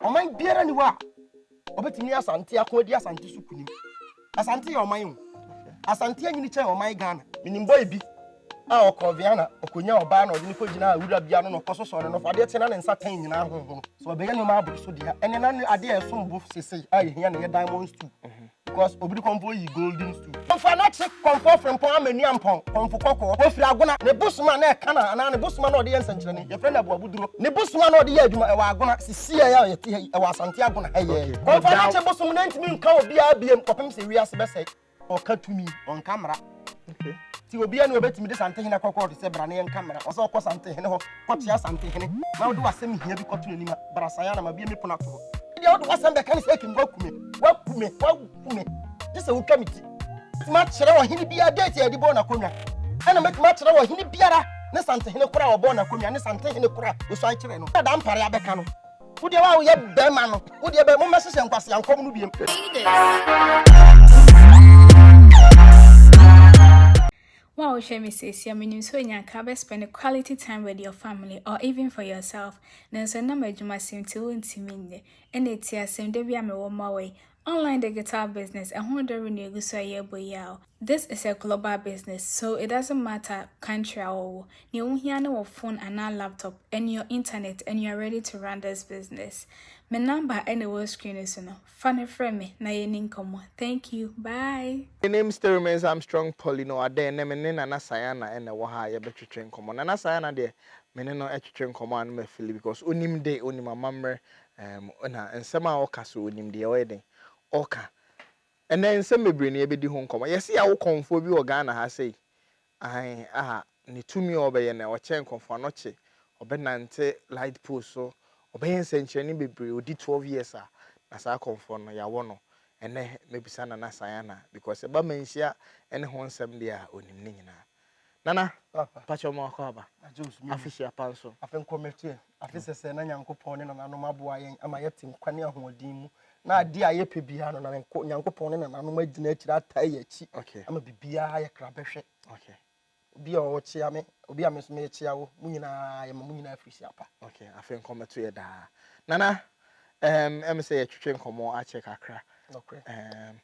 Ɔman biara nni hɔ a ɔbɛtumi ne Asante ako adi Asante so kunim. Asante yɛ ɔman o. Asante anyini kyɛn ɔman Ghana. Menim boy bi a ɔkɔɔ Vienna, ɔkɔnyaa ɔbaa na ɔde no kɔgyinaa wura bi ano na ɔkɔsosɔɔ no nɔfo. Adeɛ kye na ne nsa tan nyinaa honhono. Sɛ ɔbɛyɛ nneɛma aboro so deɛ a, ɛnneɛ na adeɛ a ɛsom bo sesei a yɛhia no yɛ diamond stew. Because obiri kɔmpɔ yi golden stew. Kɔmfo a n'akyi kɔmpɔ frempɔn amanua mpɔn kɔmfo kɔkɔɔ. Ofiri Agona. Ne bosom a na ɛka no anaa ne bosom a na ɔde yɛ nsɛnkyerɛnne, yɛfrɛ no Aboabuduro. Ne bosom a na ɔde yɛ adwuma, ɛwɔ Agona, sisi a yɛte ha yi, ɛwɔ Asante Agona ha yi ara yi. Kɔmfo a n'akyi bosom no ntumi nka obiara biom kɔpem sɛ wiase bɛsɛe. Ɔka tumi, ɔnka mmara. nti obiara ne obetumi de santehene kɔkɔɔ de sɛ bra ne yɛn nka mmara ɔsɛ ɔkɔ santehene hɔ kɔkyea santehene na wode w'asɛm hia bi kɔto n'anim a bra san anam abie me pono ato hɔ ɛdeɛ wode w'asɛm bɛka ne sɛ akim wakume wakume wakume gye sɛ wotwa me ti mɛtumi akyerɛ ɔhene biara date a yɛde bɔɔ n'akonnwa ɛna mɛtumi akyerɛ ɔhene biara ne santehene kora a ɔbɔɔ n'akonnwa ne santehene kora a ɔsuan kyerɛ no ɛda mpare abɛka no Wo deɛ wa woyɛ bɛrima no. Wo deɛ bɛ mo mmɛhyehyɛ nkwasea nkɔm no biem. Wo a wohwɛ me seesia menim sɛ onya ka bɛ spend quality time with your family or even for yourself nanso nam adwuma sim nti wontumi nyɛ ɛna ɛti asɛm da bi a mewɔ mmoa wɔ yi Online digital business, ɛho dɔ renu egu so a yɛrebɔ yi a o. This is a global business so it doesn't matter country a wɔwɔ, nea wohia ne wɔ phone anaa laptop and your internet and you are ready to run this business. Me number na ɛwɔ screen no so no, fa no frɛ me na yɛnni nkɔmmɔ. Thank you, bye! My name still remains Armstrong Paul Inoadei, ɛnnɛ me ne Nana Sayana na ɛwɔ ha a yɛbɛtwetwe nkɔmmɔ. Nana Sayana deɛ, me ne no twetwe nkɔmmɔ a na mafili because onim de, onim amammerɛ Ɛɛm, na nsɛm a ɔka so, onim deɛ ɔyɛ dɛn ɔka. Ɛnnɛ nsɛm bebree na yɛbɛdi ho nkɔmmɔ. Yɛse yɛawo kɔmfoɔ bi wɔ Ghana ha sei, aane, a ne tumi a ɔbɛyɛ no, ɔkyɛn kɔmfoɔ ano kye. Ɔbɛnante light post so, ɔbɛyɛ nsɛnkyerɛnne bebree, ɔdi twelve years a, na saa kɔmfoɔ no, yɛawo no. Ɛnnɛ mɛbisa Nana Sayana, because ɛba manhyia ne ho nsɛm deɛ a, ɔnim ne nyinaa. Nana, mpakyɛw ma wakɔ aba. Afe hyia pa nso. Afe nkɔ mɛteɛ. Afe sɛsɛɛ na Nyankopɔn ne nananom aboa yɛn ama yɛte nkwa ne ahoɔden mu. Na adeɛ a yɛpɛ biara no, na Nyankopɔn ne nananom agyina akyiri ataa yɛn akyi ama biribiara ayɛ krabɛhwɛ. Obi a ɔkyea me, obi a me nso mekyea wo, mo nyinaa yɛma mo nyinaa afiri hyia pa. Afe nkɔ mɛto yɛ daa. Nana, ɛm, ɛm sɛ yɛtwetwe nkɔmmɔ akyɛ kakra. Nokorɛ. Ɛm,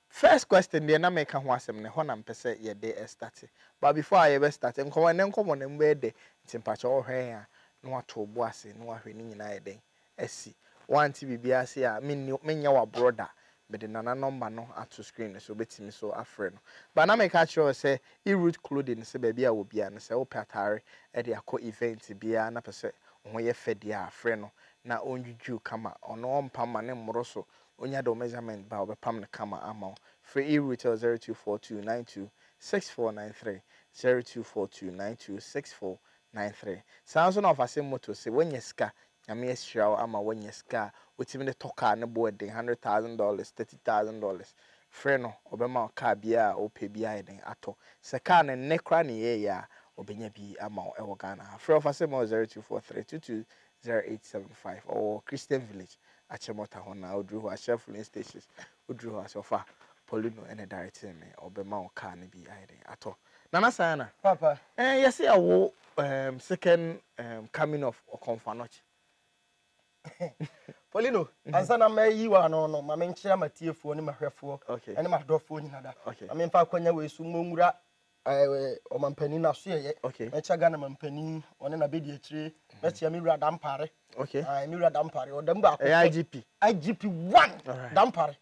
First question deɛ na meka ho asɛm no ɛhɔ na mpɛ sɛ yɛde starte but before a yɛbɛ starte nkɔmmɔ ɛnɛ nkɔmmɔ no ɛmu bɛyɛ dɛ nti mpakyɛw wohwɛ yɛn a na woatow bo ase na woahwɛ ne nyinaa ayɛ dɛn asi woante biribiara ase a menni menyɛ w'aborɔ da mede Nana number no ato screen no so wobɛtumi so afrɛ no but na meka akyerɛ wo sɛ Erut clothing sɛ baabi a wɔ biara no sɛ wopɛ ataare de akɔ event biara na pɛ sɛ wo ho yɛ fɛ deɛ a frɛ no na ɔndwudwuw kama ɔno ɔmpa mma ne mmoro so Onya de wo measurement ba a, ɔbɛpam no kama ama wo. Frɛ eRuetel 0242 92 6493, 0242 92 6493. Saa ara nso na ɔfasem moto se woanya sika, Nyame ahyira wo ama woanya sika a wotumi de tɔ kaa a ne boɔ den, hundred thousand dollars, thirty thousand dollars. Frɛ no, ɔbɛma wo kaa biara a wopɛ biara yɛ den atɔ. Sɛ kaa no nnɛ koraa na ɛyɛɛyɛ a, ɔbɛnya bi ama wo wɔ Ghana ha. Frɛ ɔfasem ma wɔ 0243 22 Zero eight seven five ɔwɔ Christian Village, Akyemɔta hɔ na oduru hɔ a hyɛ Filling Stations, woduru hɔ a sɛ ɔfa Polino ɛna directing me ɔbɛma wo car no bi ayɛ dɛn atɔ. Nana Sayana, Papa. Ɛɛ yɛse ɛwo ɛɛm second ɛɛm coming of Ɔkɔmfanoche. Polino, ansa na mayi wo ano no ma menkyea m'atiefoɔ ne m'ahwɛfoɔ Okay. ɛne m'adɔfoɔ nyina da. Okay. Ma memfa akwanya wei so mmɔ nwura Ɔmampanin n'asoɛeɛ okay. mɛkyɛ Ghana mampanin ɔne n'abɛdiakyire mɛkyɛ me wura Dampare okay. uh, me wura Dampare ɔdam baako pɛ IGP IGP one right. Dampare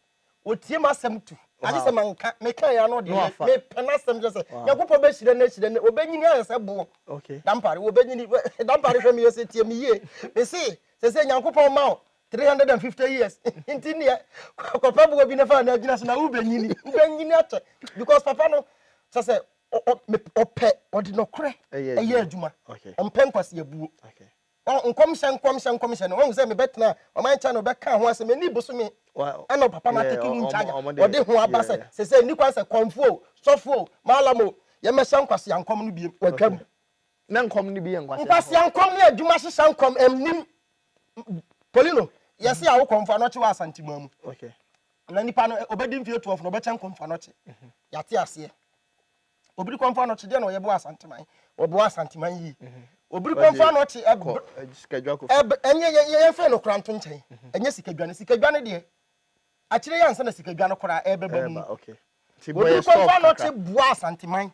wɔtie m asɛm tu agye sɛ manka meka yɛ ano deɛ mepɛ no asɛm kyɛ sɛ nyankopɔn bɛhyira no ahyira no ɔbɛnyini ayɛ sɛ boɔ Dampare wɔbɛnyini Dampare hwɛ meyɛ sɛ tie me yie mese sɛ sɛ nyankopɔn ma wo three hundred and fifty years nti neɛ kɔpɛ boɔ bi na fa na agyina so na wobɛnyini wobɛnyini akyɛ because papa no sɛ sɛ ɔpɛ ɔde nɔkorɛ ɛyɛ adwuma ɔmpɛ nkwaseabuo nkɔmhyɛ nkɔmhyɛ nkɔmhyɛ no ɔhu sɛ mebɛtena ɔman kyɛ no ɔbɛka ho asɛm ɛni bosome ɛna papa no atɛke no nkyagya ɔde ho aba sɛ sɛ sɛ nni kwan sɛ kɔmfoɔ sɔfoɔ maalamo yɛmɛhyɛ nkwasea nkɔm no biem watwam na nkɔm no bi yɛ nkwasea nkɔm ne adwuma hyehyɛ nkɔm ɛmnim Polino, yɛse a wokɔ Mfanɔkye wɔ Asanteman mu. Na nipa no obɛdi mfeɛ 12 na ɔbɛkyɛn kɔ Mfanɔkye. Yɛate aseɛ. Obiri kɔ Mfanɔkye deɛ na ɔyɛ bɔ Asanteman. Ɔboa Asanteman yie. Obiri kɔ Mfanɔkye ɛb ɛb ɛnyɛ yɛn fɛ no koranto nkyɛn. Ɛnyɛ sikadwane. Sikadwane deɛ Akyire yi ansa na sikadwa no koraa rebɛba mu no, wɔdii kwan faa Norte buaa Asanteman.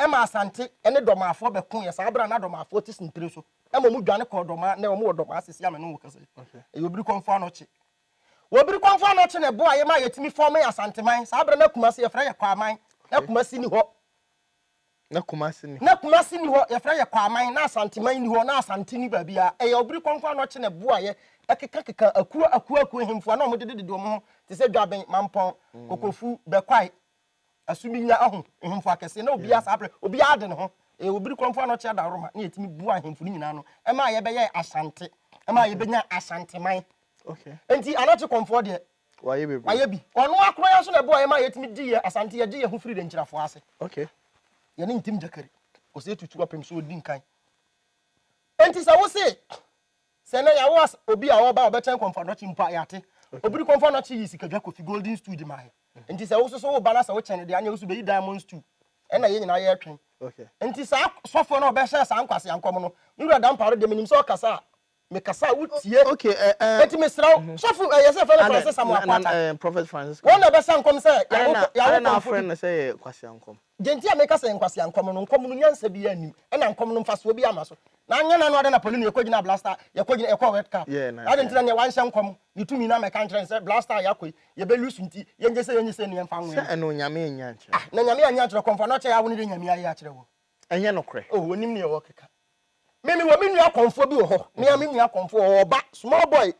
Ɛma Asante ne Dɔmaafoɔ bɛkoeɛ. Saa berɛ a na Dɔmaafoɔ te Sintire so. Ɛma wɔdwane kɔɔ Dɔmaa, nnɛ wɔwɔ Dɔmaa seesei a me ne wo kasa yi. Ɛyɛ wɔbiri kwan faa Norte. Wɔbiri kwan faa Norte na ɛboaeɛ maa yɛtumi fɔɔmee Asanteman. Saa berɛ no na Kumasi, yɛfrɛ yɛ Kwaaman. Na Kumasi nni hɔ. Na Kumasi ni hɔ. Na Kumasi ni hɔ, yɛfrɛ yɛ Kwaman, na Asanteman ni hɔ, na Asante ni baabiara. Ɛyɛ ɔbere kɔnkɔn a na ɔkye ne bo a yɛ ɛkekakeka akuo akuo akuo ahemfo a na wɔn dededede wɔn ho te sɛ Dwaben, Mampɔn, Kokofu, Bɛkwae, Asuminya ahu ahemfo akɛseɛ na obiara saa berɛ obiara de ne ho. Ɛyɛ ɔbere kɔnkɔn a na ɔkye Adaworoma na yɛtumi boa ahemfo no nyinaa no ɛma yɛbɛyɛɛ Asante ɛma yɛbɛnya Asanteman. Okay. Nti Anakye kɔmfoɔ deɛ Wayɛ bebree. Wayɛ bi. Ɔno ara koraa nso na ɛboa yɛn ma yɛtumi di yɛn Asante, yɛgye yɛn ho firi denkyirafoɔ ase. Okay. Yɛne ntim gyakari. Ɔsɛ etu turo apem so ɔdi nkan. Enti sɛ wose sɛ ɛnɛ yɛawo as obi a ɔba a ɔbɛkyɛn kɔmfo anɔkye mpo a yɛate. Obi de kɔmfo anɔkye yii sikadwa kofi golden stool de maa yɛn. Enti sɛ wo nso so wo ba na sɛ wokyɛn no deɛ aneɛ wo nso bɛyi diamond stool. Ɛnna yɛn nyinaa yɛretwɛn. Okay. Enti saa sɔfoɔ no a ɔbɛhyɛ saa nkwaseankɔm no, me wura Dampare deɛ menim sɛ ɔkasa a Me kasa a wo tie. Ok eh eh. Eti me srɛ wo, sɔfo eh yɛsɛ fɛ no Francis Samoa Kwata. Adɛn na eh prophet Francis Kwata. Wɔn na ɛbɛsa nkɔm sɛ yɛawo kɔmfo bi. Adɛn na adɛn na afrɛ no sɛ ɛyɛ kwasiankɔm. Deɛ nti a meka sɛ ɛyɛ nkwasiankɔm no, nkɔm no nyansa biara nnim, ɛna nkɔm no mfasoɔ biara mma so. Na anyɛ no ano adɛn na pɔlini yɛkɔ gyinaa Blaster, yɛkɔ gyina, yɛkɔɔ World Cup. Yeah na. Adɛn nti na neɛ wanhyɛ nkɔm ne tumi no ammɛka nkyerɛ no sɛ Blaster a yɛakɔ yi, yɛbɛ lose nti, yɛngye sei yɛnye sei na yɛmfa nwɛn no. Sɛ ɛno Nyame annya ankyerɛ. Ah na Nyame annya ankyerɛ kɔmfo a na ɔkyɛ yɛ awo no deɛ Nyame ayɛ akyerɛ wo. Ɛnyɛ nokorɛ. Oh, wɔnim neɛ wɔrekeka. Me, mewɔ me nua kɔmfoɔ bi wɔ hɔ. Me a me nua kɔmfoɔ, ɔwɔ ɔba, small boy,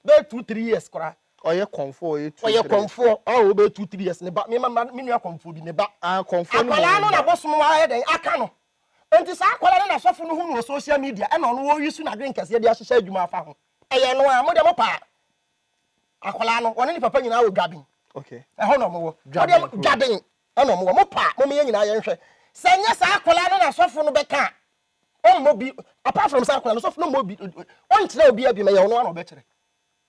bɛyɛ two, three years koraa. Ɔyɛ kɔmfoɔ, ɔyɛ two, three years. Ɔyɛ kɔmfoɔ, oh, ɔbɛyɛ two, three years, ne ba, me, ma, me nua kɔmfoɔ bi, ne ba. Ah, kɔmfoɔ no mu. Akwadaa no na bosom ayɛ dɛn aka no. Enti saa akwadaa no na sɔfo no hu no wɔ social media, ɛna ɔno ɔreuse n'adwene kɛseɛ de ahyehyɛ adwuma afa ho. Ɛyɛ ɛno ara, mo deɛ mopɛ a, Akwadaa no, wɔne ne papa nyinaa wɔ Dwaben. Ɛhɔ na wɔwɔ. Dwaben Dwaben ɛna wɔwɔ. Mo pa, mo yɛn nyinaa yɛn hwɛ. Sɛ nyɛ saa akwadaa no na sɔfo no bɛka a, ɔmmɔ bi. Apart from saa akwadaa no, sɔfo no mmɔ bi. Ɔnkyerɛ obi abiem, ɛyɛ ɔno ara na ɔbɛkyerɛ.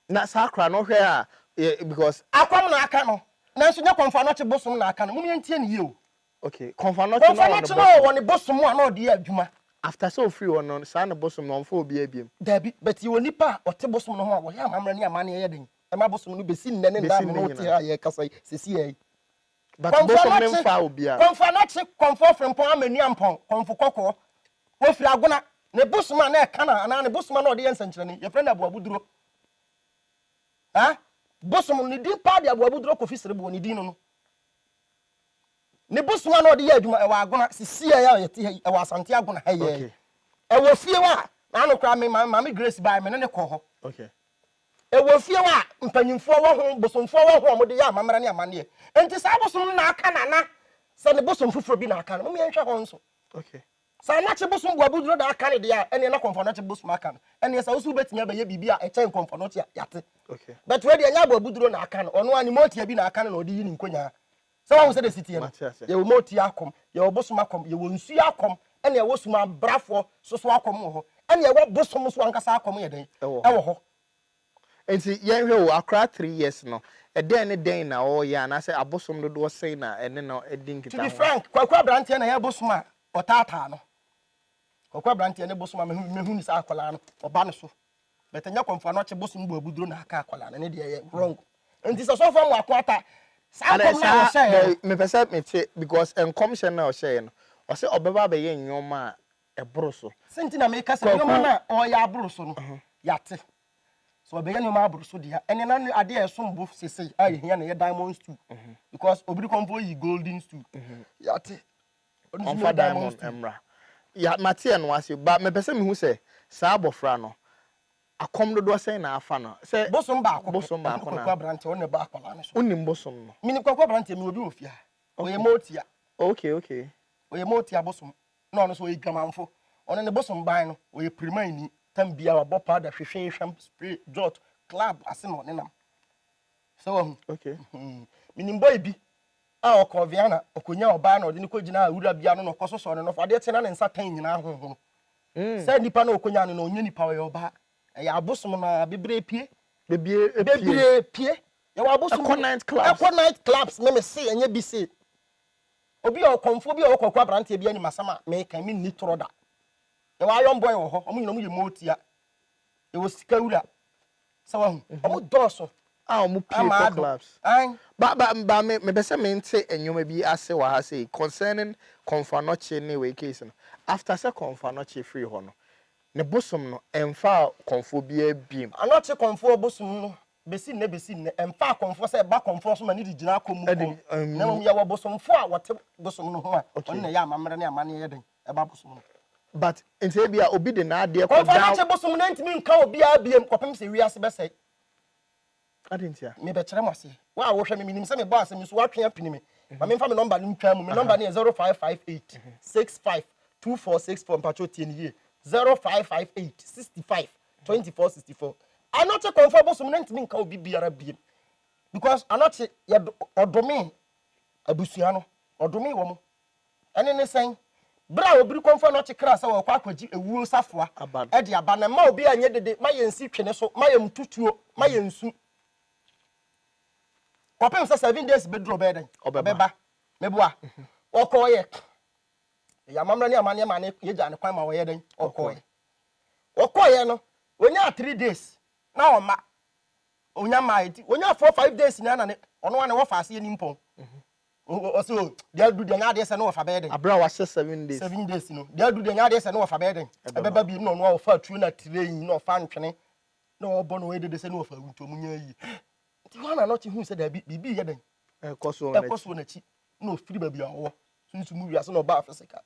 Na saa akwadaa no hwɛ a, because. Akwam na aka no, nanso nyɛ kɔmfoa na ɔte bosom na aka no. Mo yɛn tie no yie o. Okay, Kɔmfɔ no akyi na ɔwɔ ne bosom. Kɔmfɔ no akyi na ɔwɔ ne bosom a na ɔde yɛ adwuma. After sɛ ofiri hɔ no, saa ne bosom no, ɔmfa obiara biom? Dabi, but yɛwɔ nnipa a wɔte bosom no ho a wɔyɛ amammerɛ ne amanneɛ yɛ den ma bosom no besi nnɛ ne nna a me ne wo te ha a yɛrekasa yi, sesiaa yi. But bosom no mfaa obiara. Kɔmfɔ no akyi, Kɔmfɔ Frimpong Amanu-Ampong, Kɔmfɔ Kɔkɔɔ. Ofiri Agona. Ne bosom a na ɛka no anaa ne bosom a na ɔde yɛ nsɛnkyerɛnne, yɛfrɛ no Aboabuduro. Haa, bosom no, ne din paa de Aboabuduro Kofi Sereboɔ, ne din no no. Ne bosema na ɔde yɛ adwuma ɛwɔ Agona sisiɛ a yɛte ha yi ɛwɔ Asante Agona ha yɛɛ okay. ɛwɔ fie wa n'ano koraa me maame Grace baa me ne ne kɔ hɔ okay. ɛwɔ fie wa mpanyinfoɔ wɔ ho bosomfoɔ wɔ ho a wɔde yɛ amammerɛ ne amanneɛ nti saa bosom no na aka nana sɛ ne bosom foforɔ bi na aka no mo yɛnhwɛ hɔ nso okay. Sɛ anɔkye bosom bu aboduro da aka no deɛ a, ɛnneɛ na kɔmfoanɔkye bosom aka no. Ɛnneɛ sɛ wo nso wobɛtumi abɛyɛ biribi a ɛkyɛn kɔmfoanɔkye a, yɛate. But wei deɛ, ɛnyɛ abo aboduro na aka no, ɔno ara ne mootia bi na aka no na ɔde yi ne nkonyaa. Sɛ woahu sɛdeɛ ɛsi teɛ no? Yɛwɔ mootia akɔm, yɛwɔ bosom akɔm, yɛwɔ nsuo akɔm, ɛnna yɛwɔ sum abrafoɔ nso so akɔm wɔ hɔ. Ɛnneɛ ɛwɔ bosom nso ankasa akɔm yɛ dɛn? Ɛwɔ hɔ. Enti yɛnhwɛ o, akora three years no, ɛdɛn ne dɛn na ɔreyɛ anaasɛ abosom dodoɔ sɛn na ɛne no di nkitaho? To be frank, Kwaku aberanteɛ na ɛyɛ bosom a ɔtaataa no. Kwaku aberanteɛ ne bosom a mehu ne sɛ akwadaa no ɔba ne so. But ɛnyɛ kɔmfo ano ɔkye bosom bɔ abuduro na aka akwadaa no, ɛno deɛ ɛyɛ wrong. Enti sɛ sɔfo Amoako Atta, saa nkɔm no a ɔhyɛeɛ no. Mepɛ sɛ mete because nkɔmhyɛ no a ɔhyɛeɛ no, ɔse ɔbɛba abɛyɛ nneɛma a ɛboro so. Sɛ nti na meka sɛ nneɛma no a ɔreyɛ aboro so no, yɛate. Sɛ ɔbɛyɛ nneɛma aboro so deɛ a, ɛne na adeɛ a ɛsom bo sesei a yɛhia no yɛ diamond stool. Because obi de kɔmfoɔ yi golden stool. Yɛate. Ɔmfa diamond mmra. Ya, mate ɛno ase. Ba, mepɛ sɛ mehu sɛ saa abɔfra no, akɔm dodoɔ sɛn na afa no? Sɛ. Bosom baako pɛ. Bosom baako na. Ɛne Kwaku Aberanteɛ, ɔno na ɛbɔ akwadaa no so. Wonim bosom no? Menim Kwaku Aberanteɛ, mewɔ bi wɔ fie ha. Ɔyɛ Motia. Okay, okay. Ɔyɛ Motia bosom. na ɔno nso ɔyɛ dwamanfo ɔno ne bosom ban no ɔyɛ pirimaini tam bia wabɔ powder hwehwee hwam spray jot club ase na ɔne nam sɛ wahu okay hmm. menim bɔyi bi a ɔkɔ viana ɔkɔnya ɔbaa na ɔde no kɔgyina a wura bia no na ɔkɔ so sɔ ne nɔfo adeɛ te na ne nsa tan nyinaa honhono hmm. sɛ nnipa na ɔkɔnya no na ɔnyɛ nipa ɔyɛ ɔbaa ɛyɛ abosom na bebree pie bebree pie yɛwɔ abosom ɛkɔ night clubs ɛkɔ night clubs me me se ɛnyɛ bi se Obi a ɔkɔmfoɔ bi a ɔwɔ Kwaku aberanteɛ bi anim asɛm a meka me nni torɔ da. Yɛwɔ iron boy wɔ hɔ, wɔn nyina wɔn yɛ mootia. Yɛwɔ sika wura. Sɛ wahu, wɔn dɔɔso. A wɔn pie kɔ clubs. Ba ba ba me me pɛ sɛ me nte nneɛma bi ase wɔ ha sei concerning Kɔmfo Anɔkye ne wei case no. After sɛ Kɔmfo Anɔkye firi hɔ no, ne bosom no ɛnfaa kɔmfoɔ biara biom. Anɔkye kɔmfoɔ bosom no Besi nnɛ besi nnɛ, ɛmfa akɔmfoɔ sɛ ɛba akɔmfoɔ so ma ne de gyina akɔm mu kɔ. Na mmom yɛwɔ bosomfoɔ a wɔte bosom no ho a wɔn na ɛyɛ amammerɛ ne amanneɛ yɛ den ɛba bosom no. But nti ebia obi de n'adeɛ kɔda. Kɔmfoɔ no kye bosom no antumi nka obiara biam kɔpem sɛ wiase bɛsɛe. Adɛn ntia? Mebɛkyerɛ mo aseɛ. Wo a wohwɛ me, menim sɛ mebɔ asɛm yi so woatwe apini me. Ma memfa me nɔmba no ntwa mu. Me nɔmba no yɛ 0558 65 2464. Mpakyɛw tie no yie, 0558 65 twenty four sixty four anɔkye kɔnfɔ bosom na ntumi nka obi biara biem because anɔkye yɛ ɔdome abusua no ɔdome wɔn ɛne ne sɛn bere a obiri kɔnfɔ anɔkye kra sɛ wɔkɔ akɔgye ewuo safoa ɛde aba na mma obi anyɛ dede ma yɛn si twene so ma yɛn mututuo ma yɛn nsu kɔpem sɛ seven days bɛduru ɔbɛyɛ dɛn ɔbɛba meboa ɔkɔɔyɛ yɛ amammerɛ ne amanneɛ ma ne yɛgya ne kwan ma wɔyɛ dɛn ɔkɔɔyɛ Wɔkɔeɛ no wɔnyaa three days na ɔma ɔnya mmaa nti wɔnyaa four five days nyinaa na ne ɔno ne wɔfa aseɛ ni mpɔn ɔsɛ o deɛ adu deɛ nyɛ adeɛ sɛ ne wɔfa bɛyɛ den abere a wahyɛ seven days seven days no deɛ adu deɛ nyɛ adeɛ sɛ ne wɔfa bɛyɛ den ɛbɛba bi na ɔno a ɔfa atuo na train na ɔfa ntwene na ɔbɔ na ɔyɛ dede sɛ ne wɔfa awuntɔ mu nyɛ yie nti hɔ na n'ɔkye hu sɛ daabi biribi yɛ den ɛkɔ so ɛkɔ so n'akyi na ɔfiri baabi a ɔwɔ sunsun mu wiase na ɔba afisika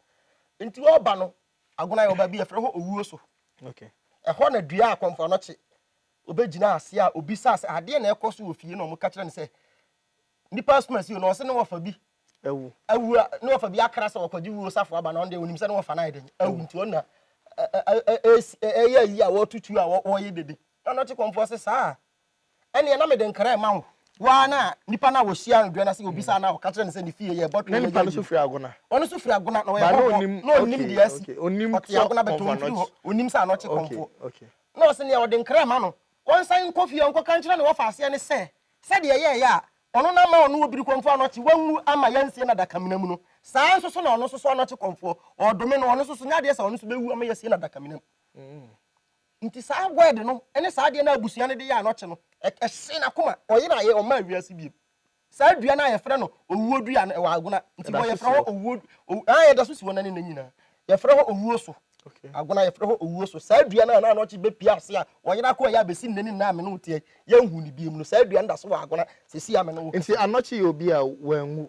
nti ɔba no Agona yɛ ɔba bi yɛfrɛ hɔ owuo so. Ɛhɔ na dua a akɔmfoɔ no kye. Ɔbɛgyinaa aseɛ a ɔbisaa sɛ adeɛ na ɛkɔ so wɔ fie na wɔka kyerɛ no sɛ nnipa asum asi no ɔse ne wɔfa bi awu awu a ne wɔfa bi akra sɛ wɔkɔgye wuo safo aba na ɔno deɛ ɔnim sɛ ne wɔfa no ayɛ dɛn awu nti ɔno na ɛyɛ ayi a wɔtutu a wɔyɛ dede na ɔno te kɔmfoɔ sɛ saa ɛnneɛ na mede nkra rema wo. Wo ara na nipa no a ɔhyiaa no dua no ase obisaa no a ɔka kyerɛɛ no sɛ ne fie yɛ bɔtwee, yɛ yɛ yie. Ɔno nso firi Agona, na ɔyɛ hɔhoɔ, na ɔnnim deɛ asi. Ɔte Agona but ɔmfiri hɔ, ɔnnim sɛ Anɔkye Kɔmfoɔ. Na ɔse nea ɔde nkra rema no, ɔnsan nkɔ fie nkɔka nkyerɛ ne wɔfa aseɛ no sɛ, sɛdeɛ ɛyɛeɛ a ɔno na ama ɔno Obiri Kɔmfoɔ Anɔkye wanwu amma yɛansie no adakamena mu no, saa ara nso so na ɔno nso so Anɔkye Kɔmfoɔ, ɔredome no, ɔno nso so, nyɛ adeɛ sɛ ɔno nso bɛwu ama yɛasie no adakamena mu. Nti saa word no ne saa adeɛ no a abusua no de yɛ a na ɔte no, ɛhyee n'akoma. Ɔyeraeɛ, ɔmmaa wiase bio. Saa dua no a yɛfrɛ no owuo dua no, ɛwɔ Agona. Nti Ɛda bɔ so yɛfrɛ si hɔ hɔ? owuo, ow, ah, ɛda so si hɔ nnɛ ne nnɛ nyinaa. Yɛfrɛ hɔ owuo so. Okay. Agona yɛfrɛ hɔ owuo so. Saa dua no a na Anɔkye bɛpue ase a ɔyera kɔeɛ a bɛsi nnɛ ne nnɛ a me ne wo teɛ yi, yɛnhu no biom no, saa dua no da so wɔ Agona seesei a me ne wo Nti kasa yi. Anɔkye yɛ obi a wanwu.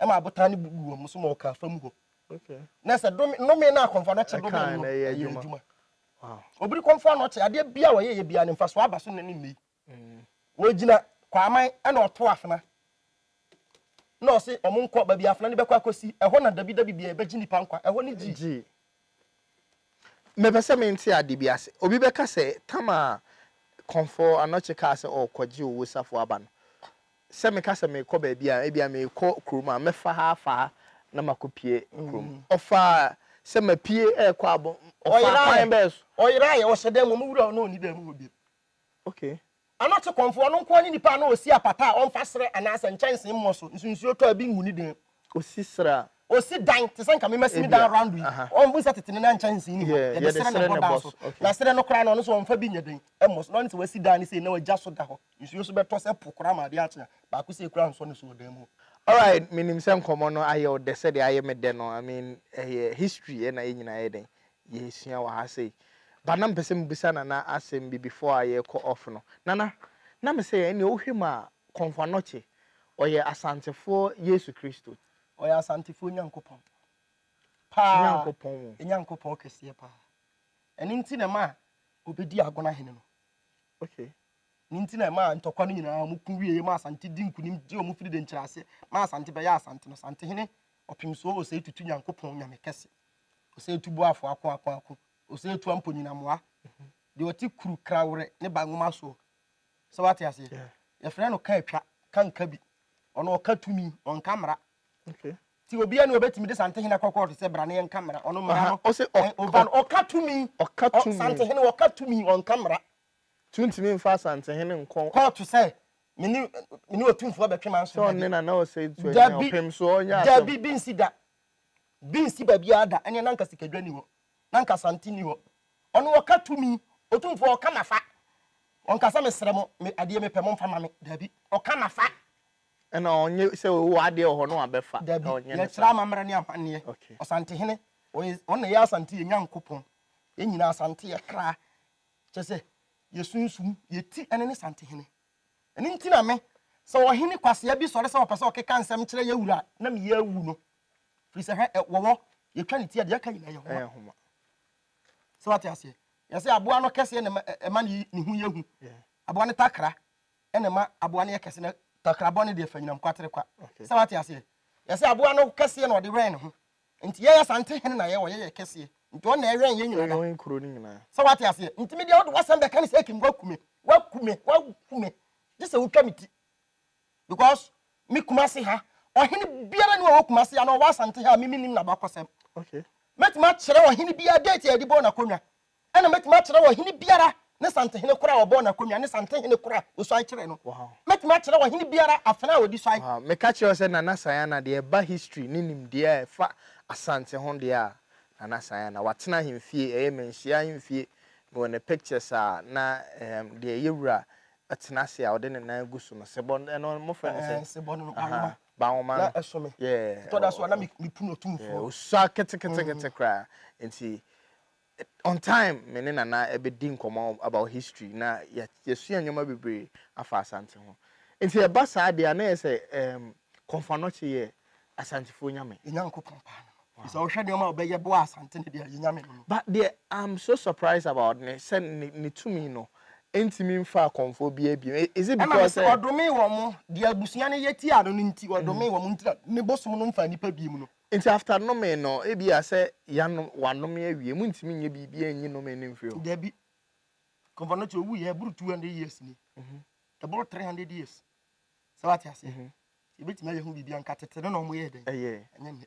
ɛma abotan no bubu wɔn so ma wɔkaa fam hɔ. Na sɛ nnome no a kɔmfoɔ no kye dome no yɛ adwuma. Obiri kɔmfoɔ no kye adeɛ bia wɔyɛ yɛ bia ne mfasoɔ aba so ne ne nnei. Mm. Wɔgyina kwaman ɛna ɔto afena. Na ɔse ɔmo nkɔ baabi afena no bɛkɔ akɔsi ɛhɔ na dabi dabi bia ɛbɛgye nipa nkwa ɛhɔ ne gyi. Mepɛ sɛ mente ade bi ase. Obi bɛka sɛ, Tam a Kɔmfoɔ Anokye kaa sɛ ɔrekɔgye Owuo safoa aba no, sɛ meka sɛ merekɔ baabi a, ebia merekɔ kurom a, mɛfa ha afa ha na makɔpue kurom. Ɔfaa sɛ mapue rekɔ abɔn. Ɔfaa kwan bɛn so? Ɔyeraeɛ, ɔhyɛ dan mu. Ɔmo wura hɔ na ɔnni dan mu hɔ bio. Okay. Ano te kɔmfo, ɔno nko ara ne nipa a na osi apata a ɔmfa srɛ anaasɛ nkyɛnsee mmɔ so, nso nsuo tɔ a ebi ngu ne den. Osi srɛ a? Osi dan, te sɛ nka me masi me dan around yi, wohu sɛ tete no na nkyɛnsee nni hɔ, yɛde srɛ na ɛbɔ dan so, na srɛ no koraa no ɔno nso ɔmfa bi nyɛ dɛn mmɔ so, na ɔne sɛ wasi dan no sei na wagya so da hɔ, nsuo nso bɛtɔ sɛ po koraa ma adeɛ akye a, baako sei koraa nsɔ ne so wɔ dan mu hɔ. Alright, menim sɛ nkɔmmɔ no ayɛ wo dɛ sɛdeɛ ayɛ me dɛ no, I mean ɛyɛ history na yɛn nyinaa yɛ dɛn, yɛresua wɔ ha sei. But na mepɛ sɛ mebisa Nana asɛm bi before a yɛrekɔ off no. Nana, na me sɛ ɛnneɛ wohwɛ mu a Kɔmfo Anokye ɔyɛ Asantefoɔ Yesu Kristo? Ɔyɛ Asantefoɔ Nyankopɔn paa. Nyankopɔn o. Nyankopɔn kɛseɛ paa. Ɛno nti na ɛmaa ɔbɛdii Agona hene no. Okay. Ne nti na ɛmaa ntɔkwa no nyinaa wɔn ko wieɛ ma Asante di nkunim gye wɔn firi denkyerɛ ase ma Asante bɛyɛ Asante no. Asantehene Ɔpemsoɔ Osei Tutu Nyankopɔn Nyame kɛse. ɔsɛ etu bo afo ako ako ako ɔsɛ etu ampo nyinamoa deɛ ɔte kuru kraworɛ ne ba nwoma soɔ sɛ wate aseɛ yɛfrɛ no ka atwa ka nka bi ɔno ɔka tumi ɔnka mmara ti obiara ne ɔbɛtumi de santehene akɔ kɔɔto sɛ bra ne yɛnka mmara ɔno mmara no ɔba no ɔka tumi santehene ɔka tumi ɔnka mmara tuntumi mfa santehene nkɔ kɔɔto sɛ mene mene ɔtumfoɔ bɛtwe ma nso dabi dabi bi nsi da Bi nsi baabiara da, ɛneɛ na anka sikadwa nni hɔ, na anka Asante nni hɔ. Ɔno ɔka tumi, Otumfoɔ ɔka mafa. Ɔnka sɛ mesrɛ mo, me adeɛ mepɛ momfa ma me. Daabi, ɔka mafa. Ɛna ɔnyɛ sɛ wowɔ adeɛ wɔ hɔ na wabɛfa. Daabi, yɛkyerɛ amammerɛ ne amanneɛ. Ɔsantehene, ɔyɛ, ɔno na ɛyɛ Asante yɛn Nyankopɔn. Yɛn nyinaa Asante yɛ kra, kyerɛ sɛ yɛn sunsum, yɛn ti ɛne ne Santehene. Ɛno nti na me, sɛ ɔhene kwasea bi sɔre sɛ ɔpɛ sɛ ɔkeka nsɛm kyerɛ yɛn wura a, na me yɛ awu no. Firi sɛ hwɛ, ɛ, wɔwɔ, yɛtwa ne ti a, deɛ aka nyinaa yɛ nwoma. Ɛyɛ nwoma. Sɛ wate aseɛ? Yɛ sɛ aboa no kɛseɛ na ɛma, ɛma ne, ne ho yɛ hu. Yeah. Aboa no takra na ɛma aboa no yɛ kɛse na takrabɔ no deɛ fa nyinam kwatere kwa. Okay. Sɛ wate aseɛ? Yɛ sɛ aboa no kɛseɛ na ɔde wɛn ne ho. Nti yɛyɛ saa nti hene na yɛwɔ yɛyɛ kɛseɛ nti ɔno na ɛwɛn yɛn nyinaa da sɛ wate aseɛ nti me deɛ wode wasɛm bɛka ne sɛ akim waku me waku me waku me gye sɛ wotwa me ti because me kuma se ha ɔhene biara ne ɔwɔ kuma se ana ɔwɔ asante ha a me menim na bakɔsɛm okay mɛtumi akyerɛ ɔhene biara date a yɛde bɔɔ n'akonnwa Ɛna mɛtumi akyerɛ ɔhene biara ne santehene korɔ a wɔbɔɔ no akonnwa ne santehene korɔ a wɔsuae kyeree no. Mɛtumi akyerɛ ɔhene biara afena a wɔde suae. Meka kyerɛ wo sɛ Nana Sayana deɛ ɛba history ne nimdeɛ a ɛfa Asante ho deɛ a, Nana Sayana, watena ahemfie, ɛyɛ manhyia ahemfie, mewɔ ne pictures a na ehem deɛ ɛyɛ wura tena ase a ɔde ne nan gu so no, sebɔ no, ɛno mofrɛ no sɛn? Sebɔ no no, Banwoma. Ahaa, Banwoma no. Na ɛso me. Yeah. Ɛtɔ da so a na mepunu Otumfoɔ. Yeah, ɔsua ketekete koraa, nti On time me ne Nana bɛdi nkɔmmɔ about history na yɛasua nneɛma bebree afa Asante ho. Nti ɛba saa deɛ a na ɛyɛ sɛ ehm Kɔmfo Anokye yɛ Asantefoɔ nyame. Yɛn Nyankopɔn paa no no. Sɛ wohwɛ nneɛma a ɔbɛyɛ boaa Asante no deɛ yɛn nyame no no. But deɛ I'm so surprised about ne sɛ ne ne tumi no ɛntumi mfaa Kɔmfoɔ biara bio. Is it Ɛna because mese sɛ. ɔdomee wɔn, deɛ abusua no yɛ tiaa no no nti ɔdomee wɔn nti na ne bosom no mfaa nnipa biom no. Nti after nomee no ebia sɛ yanom wanome awie montumi nyɛ biribiaa nyi nomee no mfiri hɔ? Dabi. Kɔmfɔ no te owu yɛ ɛboro 200 years ni. Ɛboro 300 years. Sɛ wate aseɛ? Yɛbɛtumi ayɛ ho biribi anka tete no na ɔmo yɛɛ dɛn? Ɛyɛɛ. Ɛnyɛ nnɛ.